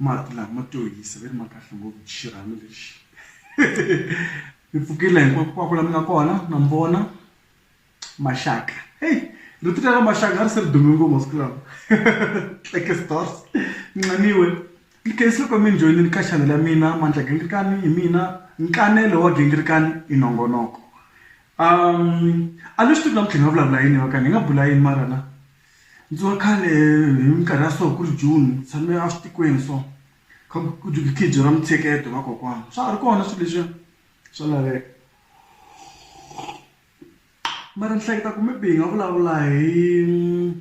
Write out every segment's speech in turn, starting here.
mati lama ma to hisa ve ri ma kahle ngopfu xirhami lexi ni pfukile hinkwako la mi nga kona na mi vona maxaka heyi rito ra maxaka a ri se ri dume ngopfu masiku lawa tleke stores nxaniwe ni khensile loko mi ni joyinini ka chanel ya mina mandla gingirikani hi mina nkanelo wa gingirikani i nongonoko a ni swi tivi namuntlha hi nga vulavula yini va ka ni nga bula yini mara na. Ndzi wa khale hi minkarhi ya so ku ri June ni tshame a switikweni so kha ku khijiwa mintsheketo hi vakokwana swa ha ri kona swilo leswiya swa laveka mara ni hleketa ku maybe hi nga vulavula hi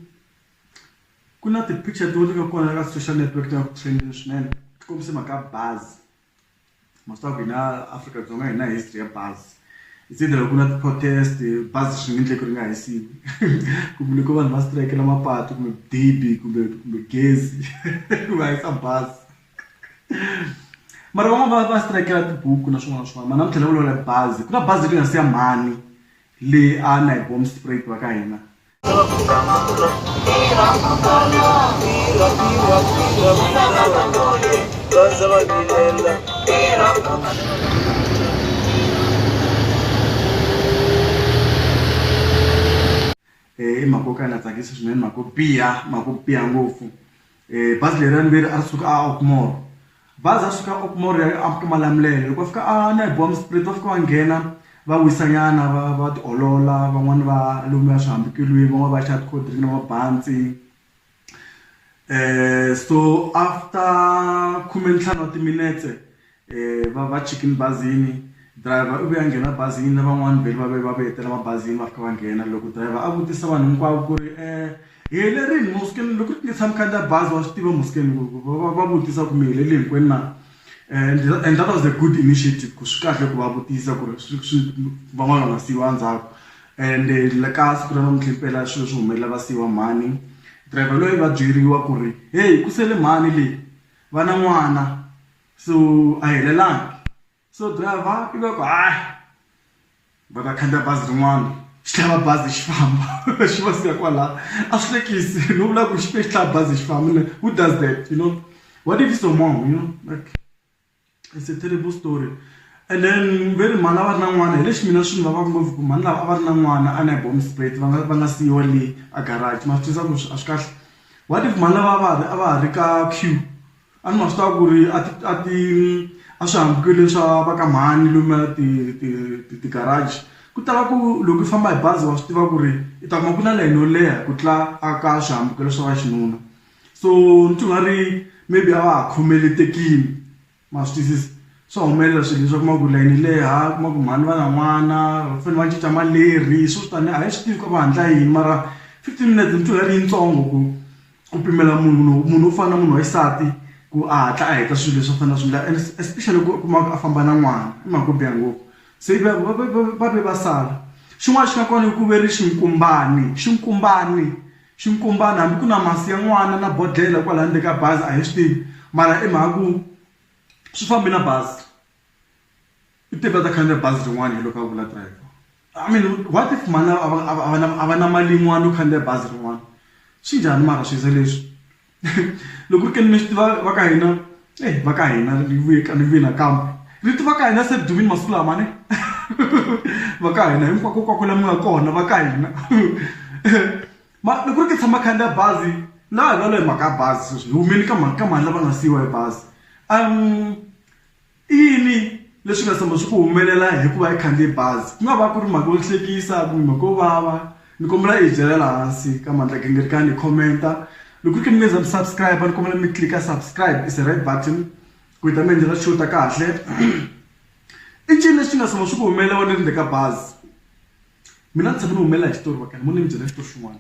ku na ti-picture tin'wana ti nga kona ka social network ti nga ku trend-ini swinene ti kombisa hi mhaka ya bazi. maswaku hina afrika dzonga hi na history ya bazi it's either ku na ti-protest bazi swi nge endleki ri nga hisiwi kumbe loko vanhu va strikela mapatu kumbe dibi kumbe kumbe gezi ku va hisa bazi mara van'wana va va strikela tibuku na swin'wana na swin'wana ma namuntlha ni vulavula bazi ku na bazi ri nga siya mhani leyi a na hi bomb spray va ka hina. Heyi makokana tsakisa swinene mhaka yo biha mhaka yo biha ngopfu Eh, bazi leri ra mbirhi a ri suka a okmore bazi a suka okmore ya a malamulelo loko va fika a na hi boha mispirit va fika va nghena va wisanyana va va tiolola van'wani va lumiwa swihambukelweni van'wani va xava ti-cold drink na mabantsi um so after khumentlhanu wa timinetse Eh, va va chikini bazini driver u ve a nghena bazini na van'wani vheli va ve va ve tela mabazini va fika va nghena loko driver a vutisa vanhu hinkwavo ku ri um hi helerini muskeni loko ri tisa mi khandziya bazi wa swi tiva muskeni va vutisa ku mi helele hinkwenu na and and that was a good initiative ku swi kahle ku va vutisa ku ri swi swi van'wana va nga siyiwa ndzhaku and eh, ka siku ra namuntlha impela swilo swi humelela va siyiwa mhani driver loyi va byeriwa ku ri heyi ku sele mhani leyi va na n'wana so a helelangi so driver i va ku hayi va ta khandziya bazi rin'wana xi tlhava bazi xi famba xi va siya kwala a swi hlekisi no vula ku xi xi tlhava bazi xi famba like who does that you know what if so more you know like it's a terrible story and then ve ri mhani a va ri na n'wana hi lexi mina swi ni vavaka ngopfu ku mhani lava a va ri na n'wana a na hi bomb spray va nga va nga siyiwa le a garage ma swi tiva ku a swi kahle what if mhani lava a va ha ri a va ha ri ka queue A ni ma swi tiva ku ri a ti a ti a swihambukelweni swa va ka mhani lomuya ti ti ti ti-garage ku tala ku loko u famba hi bazi wa swi tiva ku ri u ta kuma ku na layeni yo leha ku tlula a ka swihambukelo swa vaxinuna so ni twa nga ri maybe a va ha khomeletekile ma swi twisisa swa humelela swilo leswi u kuma ku layeni yi leha u kuma ku mhani va na n'wana va fanele va cinca maleri hi swo swo tani a hi swi tivi ku a va hatla yini mara fifteen minutes ni twa nga ri yitsongo ku. ku pimela munhu munhu munhu wo fana na munhu wa xisati ku a hatla a heta swilo leswi a fanele a swi endla and especially loko u kuma ku a famba na n'wana i mhaka yo biha ngopfu se va va va va va ve va sala xin'wana xi nga kona i ku ve ri xinkumbani xinkumbani xinkumbani hambi ku na masi ya n'wana na bodlhela kwala ndzeni ka bazi a hi swi tivi mara i mhaka ku swi fambi na bazi. U teke a ta khandziya bazi rin'wana hi loko a vula driver. I mean what if mhani a va a va a va na a va na mali yin'wana yo khandziya bazi rin'wana swi njhani mara swi za leswi loko ku ri ke ni mi swi tiva va ka hina e va ka hina ni vuye ka ni vuye nakambe rito va ka hina se ri dumile masiku lama ne va ka hina hinkwako hinkwako la mi nga kona va ka hina mara loko ku ri ke tshama khandziya bazi laha hi vulavula hi mhaka ya bazi sweswi hi humeni ka mhaka ka mhani lava nga siyiwa hi bazi . I yini leswi nga tshama swi ku humelela hikuva i khandziye bazi? Ku nga va ku ri mhaka yo hlekisa kumbe mhaka yo vava. Ni kombela i hi byela laha hansi ka Mandla-Gingirikani, hi comment-a. Loko ku ri ke ni mi za mi subscribe-a ni kombela mi click-a subscribe, it's a red button, ku hi ta mi endlela show ta kahle. I ncini lexi nga tshama swi ku humelela wena i ri ndzeni ka bazi? Mina ni tshame ni humelela hi xitori va ka ni mo ni mi byela xitori xin'wana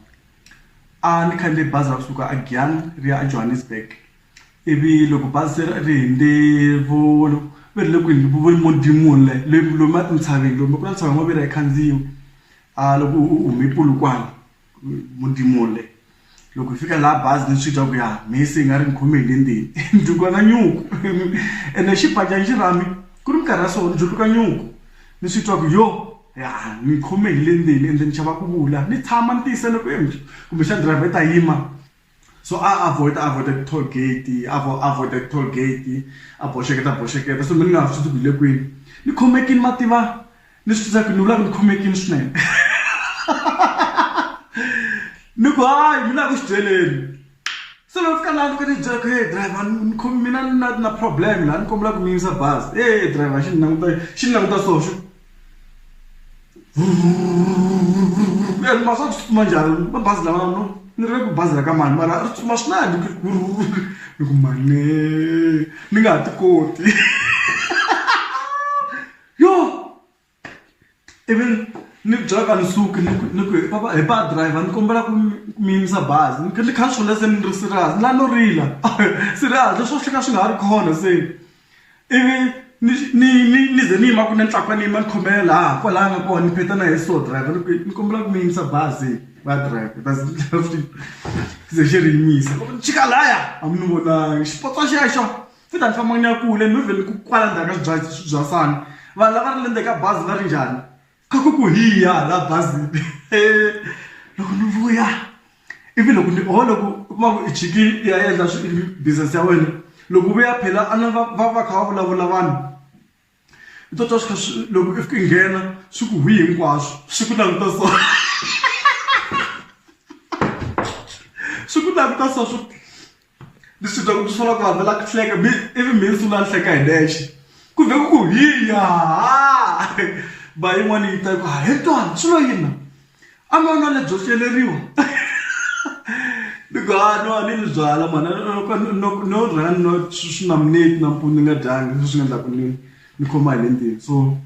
a ni khandziye bazi ra kusuka a Giyani ri ya a Johannesburg ivi loko bazi se ri hundze vo va ri le ku endleni vo Modimo le lomu entshaveni lomu ku na ntshava wo va yi khandziya a loko u hume Polokwane mundimo le loko hi fika laha bazi ni swi twa ku ya mhisi yi nga ri ni khome hi le ndzeni ni juluka na nyuku ene xibajana xa mina ku ri minkarhi ya so ni juluka nyuku ni swi twa ku yo ya ni khome hi le ndzeni ende ni chava ku vula ni tshama ni tiyisela ku kumbexana driver i ta yima. so a avoid avoid ti toll gate avo avoid ti toll gate a boxeketa boxeketa so mi nga swi tivi le kwini ni khomekini ma tiva ni swi tsaka ni vula ku ni khomekini swinene ni ku hayi mi la ku swi byeleni se loko fika laha ni fika ni byela ku hey driver ni khomi mina ni na na problem laha ni kombela ku mi yimisa bazi e driver xi ni languta xi ni languta so xi and masa tsutsuma njhani va bazi lava no ni ri ku bazi ra ka mani mara ri tsutsuma swinene ku ni ku mane ni nga ha ti koti yo ivi ni byela ka ni suki ni ku ni ku he papa he pa driver ni kombela ku mi yimisa bazi ni kha ni kha ni swi vona se ni ri serious ni la no rila serious leswi a swi kha swi nga ha ri kona se. Ivi ni ni ni ni ze ni yima ku ni tlakwa ni yima ni khomela laha kwalaya nga kona ni pheta na yeso driver ni ku ni kombela ku mi yimisa bazi va driver va ze xi ze xi ri yimisa loko ni chika laya a mi ni vonangi xipotso xexo se ni ta ni famba ni ya kule ni vhele ni ku kwala ndzhaku ka swibyariwa swibyasana vanhu lava ri le ndzeni ka bazi va ri njhani. A ku ku hi ya hala bazini loko ni vuya ivi loko ni ho loko u kuma ku i chikile i ya endla business ya wena loko u vuya phela a ni va va va kha va vulavula vanhu u to twa swi kha swi loko i fika i nghena swi ku hwii hinkwaswo swi ku languta so swi ku languta so swi. ni swi twa ku swi vona ku vanhu va lava ku hleka mi ivi mi sungula ni hleka hi nexe ku vhe ku ku hi ya ba yin'wana yi ta ku ha he twani swi lo yini na a mi ona lebyo hleleriwa ni ku ha no a ni ni byala mhana no no rhanga no swi na mineti nampundzu ni nga dyanga leswi nga endlaku ni ni khoma hi le ndzeni so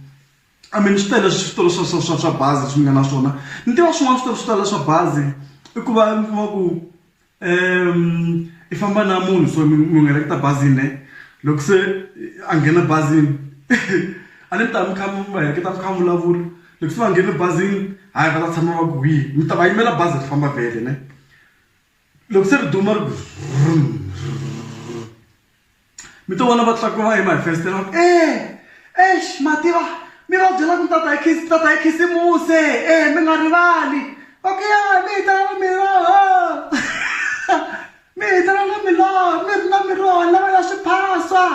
I mean swi tele switolo swa swa swa swa bazi leswi ni nga na swona ni tiva swin'wana switori swo tala swa bazi i ku va mi kuma ku. um i famba na munhu so munhu a leketa bazini ne loko se a nghena bazini a ni mi ta mi kha mi va heleketa mi kha mi vulavula loko se va nghene bazini hayi va ta tshama va ku hi mi ta va yimela bazi ri famba vhele ne loko se ri duma ri ku . Mi to vona va tlakuva hi mafesitela va ku e exi ma tiva mi va byela ku tata hi khisi tata hi khisimuse e mi nga rivali va ku ya mi hi tala na miroho mi hi tala na miroho mi ri na miroho lava ya swiphaswa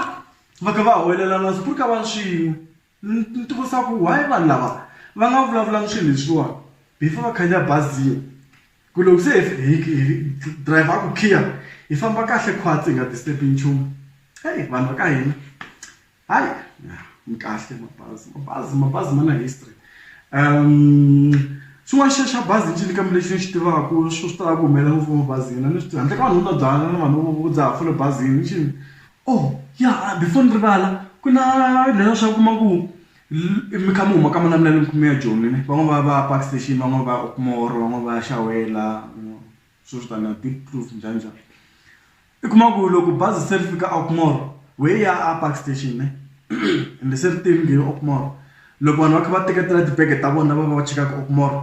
va kha va huwelela na swi pfuka va ri swin'we. Ni tivutisa ku why vanhu lava va nga vulavulangi swilo leswiwani before va khandziya bazi liya ku loko se driver a ku khiya hi famba kahle khwatsi hi nga disturb nchumu heyi vanhu va ka hina hayi mi kahle mabazi mabazi mabazi ma na history xin'wana xa xa bazi ncini kambe lexi ni xi tivaku swi swi tala ku humelela ngopfu emabazini a ni swi tivi handle ka vanhu vo nwa byalwa na vanhu vo dzaha fole bazini ncini. Oh ya before ni rivala ku na leswa swa kuma ku mi kha mi huma ka malamulelo mi khume ya joni ne van'wani va va park station van'wani va ya upmore van'wani va ya xawela swo swo taniya deep proof njhani njhani i kuma ku loko bazi se ri fika a upmore wehe ya a park station ne ende se ri te ri nghene upmore loko vanhu va kha va teketela tibege ta vona va va va chika ka upmore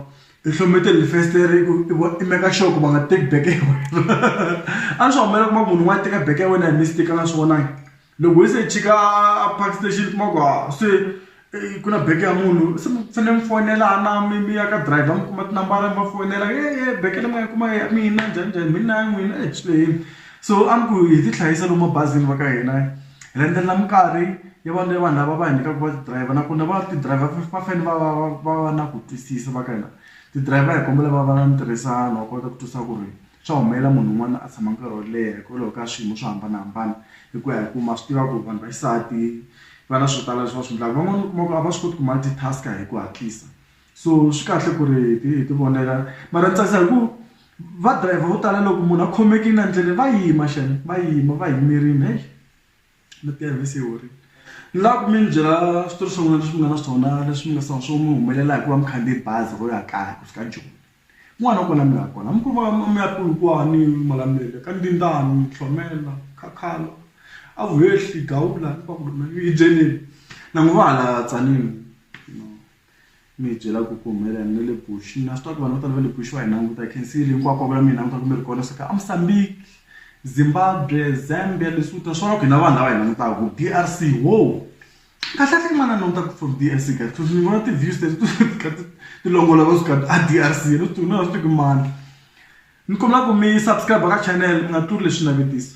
i hlomete leli festere i ku i vo i meka sure ku va nga teki beke ya wena a swi humelela kuma munhu un'wana teka beke ya wena hi mistake a nga swi vonangi loko hi se chika a park station kuma ku ha se ku na beke ya munhu se mi fanele mi fonela a na mi mi ya ka driver mi kuma tinambara mi va fonela hehe beke leyi mi nga yi kuma ya mina njhaninjhani mina ya n'wina swi lehile. So a ni ku hi ti hlayisa lomu mabazini va ka hina hi landzelela minkarhi ya vanhu ya vanhu lava va hi nyikaka va ti-driver nakona va ti driver va fanele va va va va va na ku twisisa va ka hina ti-driver hi kombela va va na ntirhisano va kota ku twisisa ku ri swa humelela munhu un'wana a tshama nkarhi wo leha hikwalaho ka swiyimo swo hambanahambana hi ku ya hi ku ma swi tiva ku vanhu va xisati va na swo tala leswi va swi endlaka van'wana u kuma ku a va swi koti ku multi-task-a hi ku hatlisa so swi kahle ku ri hi hi ti vonela mara ni tsakisa hi ku va driver vo tala loko munhu a khomekile endleleni va yima xana va yima va yimerile heyi mi ti hanyisa se yi horile ni lava ku mi ni byela switori swin'wana leswi mi nga na swona leswi mi nga swona swo mi humelela hi ku va mi khandziye bazi ro ya kaya ku fika joni kun'wana na kona mi nga kona mi ku va mi ya polokwane malamulele ka ndzindani mitlhomela khakhalo a vuhehli gawula ni va ku hi byeleni na n'wi va hala tsanile. mi hi byela ku ku humelela yini na le bush na swi tiva ku vanhu vo tala va le bush va hi languta can see hinkwako va vula mi hi languta ku mi ri kona swa ka a musambiki zimbabwe zambia lesotho swa loko hina vanhu lava hi langutaka ku d r c wo kahlekahle i manana languta ku from d r c ka ni vona ti-views teti ti kha ti ti longoloka swi kha a d r c ni swi tivi na swi tivi ku i mani ni kombela ku mi subscribe ka channel mi nga tluri leswi navetiso.